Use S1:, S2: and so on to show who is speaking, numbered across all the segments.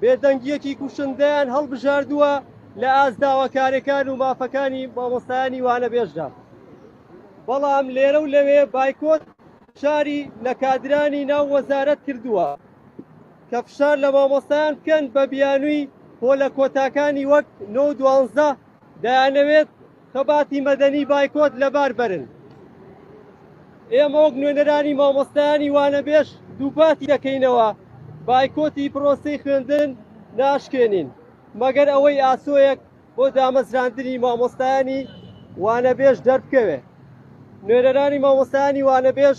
S1: بێدەنگییەکی کوشندەیان هەڵبژاردووە لە ئاست داواکارێکان و مافەکانی مامۆستایانی وانەبێژدا. بەڵام لێرە و لەوێ بایکۆت فشاری لە کادرانی ناو وەزارەت کردووە کە فشار لە مامۆستایان بکەن بە بیانووی پۆلە کۆتاکانی وەک نۆ و دوانزدە دەیانەوێت خەباتی مەدەنی بایکۆت لەبار بەرن. ئێمە وەک نوێنەرانی مامۆستایانی وانەبێژ دووپاتی دەکەینەوە بایکۆتی پرۆسەی خوێندن ناشکێنین مەگەر ئەوەی ئاسۆیەک بۆ دامەزراندنی مامۆستایانی وانەبێژ دەربکەوێ نوێنەرانی مامۆستایانی وانەبێژ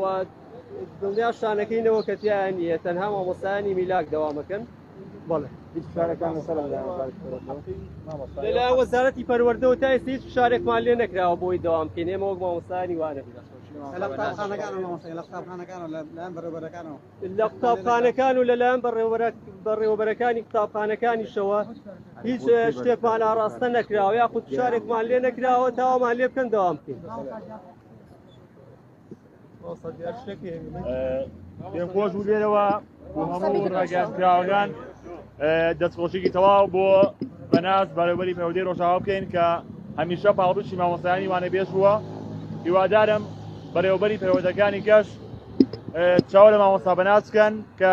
S1: و دڵنیا شانەکەی نەوە کە تیا نیە تەنها مامۆستایانی میلاک دەوامەکەن بەڵێ لە وەزارەتی پەروەردەوە تا ئێستا هیچ فشارێکمان لێ نەکراوە بۆی دەوام بکەین ئێمە وەک مامۆستایانی وانە لە قوتابخانەکان و لەلایەن بەڕێوەبەرەکانی قوتابخانەکانیشەوە هیچ شتێکمان ئاراستە نەکراوە یاخود فشارێکمان لێ نەکراوە تاوامان لێ بکەن دەوام بکەین.
S2: پێم خۆش بوو لێرەوە بۆ هەموو ڕاگەیاندراوەکان دەستخۆشیی تەواو بۆ بەناز بەرەوەری پەودەی ڕۆژاوا بکەین کە هەمیشە پاڵپشتی مامۆستایانی وانە بێژ بووە هیوادارم بەرەوەبەری پەیوەندەکانی گەشت چاوە لە مامۆستا بەناز بکەن کە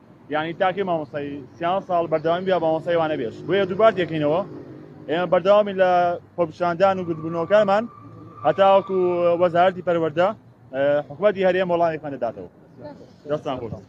S2: یانی تاکەی مامۆستای سیان ساڵ بەردەوامی بیا مامۆستای وانە بێش بۆیە دووبار دەکەینەوە ئێمە بەردەوامی لە خۆپیشاندان و گردبوونەوەکانمان هەتاوەکو وەزارەتی پەروەردە حکوومەتی هەرێم وەڵامێکمان دەداتەوە دەستان خۆش